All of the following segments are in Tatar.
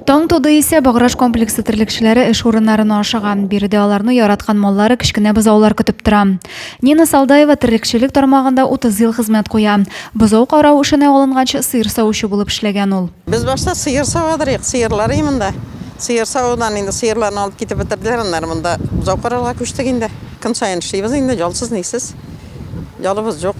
Таң туды исә Баграж комплексы терлекчеләре эш урыннарына ашыга. Биредә аларны яраткан маллары, кечкенә бозаулар көтеп тора. Нина Салдаева терлекчелек тармагында 30 ел хезмәт куя. Бозау карау эшенә алынганчы сыер савучы булып эшләгән ул. Без башта сыер савадырыйк, сыерлар ий монда. Сыер савудан инде сыерларны алып китеп бетерделәр, аннары монда бозау карарга күчтек инде. Көн саен эшлибез инде, ялсыз-нисез. Ялыбыз юк.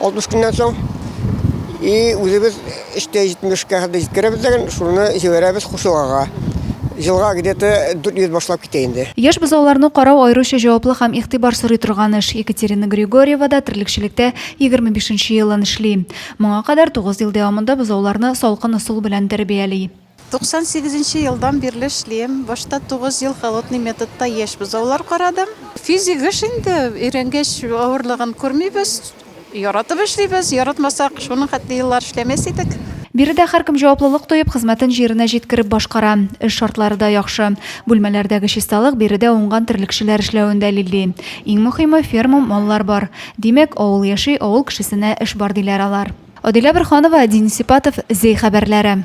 60 көннән соң и үзебез эштә 70 ка хәтле җиткерәбез дигән, шуны җибәрәбез Хушугага. Елга где-то 400 башлап китә инде. Яшь бозауларны карау аеруча җаваплы һәм игътибар сорый торган эш. Екатерина Григорьева да терлекчелектә 25 нче елын эшли. Моңа кадәр 9 ел дәвамында бозауларны салкын ысул белән тәрбияли. 98 нче елдан бирле эшлим. Башта тугыз ел холодный методта яшь бозаулар карадым. Физик эш инде, өйрәнгәч авырлыгын күрмибез. Яратып эшлибез, яратмасак, шуның хәтле еллар эшләмәс идек. Биредә һәркем җаваплылык тоеп, хезмәтен җиренә җиткереп башкара. Эш шартлары да яхшы. Бүлмәләрдәге чисталык биредә уңган терлекчеләр эшләвен дәлилли. Иң мөхиме, ферма, маллар бар. Димәк, авыл яши, авыл кешесенә эш бар, диләр алар. Адилә Борһанова, Дин Сипатов, Зәй хәбәрләре.